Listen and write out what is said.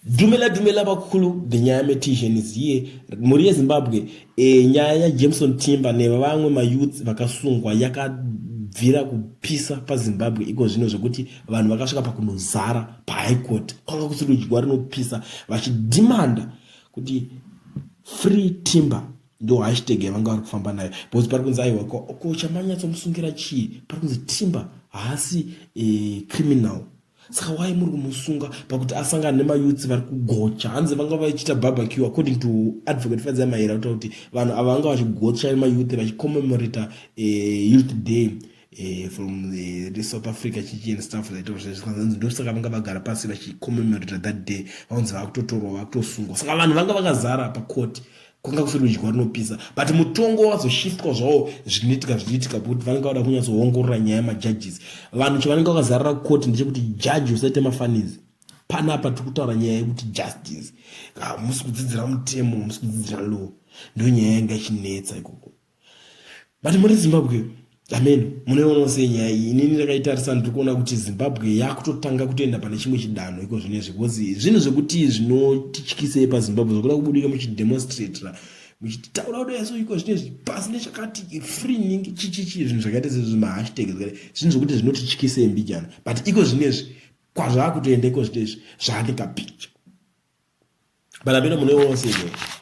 Dumela dumela vakulu the nyaya metition is here mhuri yezimbabwe e, nyaya yajameson timba nevamwe mayouth vakasungwa yakabvira kupisa pazimbabwe iko zvino zvekuti vanhu vakasvika pakunozara pahigh court kwanga kusiri kudyiwa rinopisa vachidhimanda kuti free timber ndo hashtag yavanga vari kufamba nayo because pari kunzi aiwa ko chamanyatsomusungira chii pari kunzi timber haasi e, criminal saka why muri kumusunga pakuti asangana nemayutsi vari kugocha hanzi vanga vachiita barbecue according to advocate fadza maera kutaura kuti vanhu ava vanga vachigocha mayutsi vachicommemorata eh, youth day eh, from eh, south africa chichi and stuff like thatzanzi ndosaka vanga vagara pasi vachicommemorata that day vanzi vakutotorwa vakutosungwa saka vanhu vanga vakazara pacourt kwanga kusiri rudyiwa runopisa but mutongo wazoshiftwa zvawo zvinoitika zvichiitika kuti vanenge vada kunyatsoongorora nyaya yemajudges vanhu chavanenge vakazarira kukoti ndechekuti judge usaite mafanizi panapa tiri kutaura nyaya yekuti justice hamusi kudzidzira mutemo hamusi kudzidzira law ndo nyaya yanga ichinetsa ikoko but muri zimbabwe ameno munoiona sei nyaya iyi inini ndakaitarisa ndiri kuona kuti zimbabwe yakutotanga kutoenda pane chimwe chidanho iko zvino izvi bcause zvinhu zvekuti zvinotityisei pazimbabwe zvokuda kubudika muchidemonstratira muchitaura kuda yaso iko zvino izvi pasi nechakati freening chichichi zvinhu zvakaita sezvi mahashtag zvakaita zvinhu zvekuti zvinotityisei mbijana but iko zvino izvi kwazvaakutoenda iko zvino izvi zvaandingapicha but ameno munoiona sei nyaya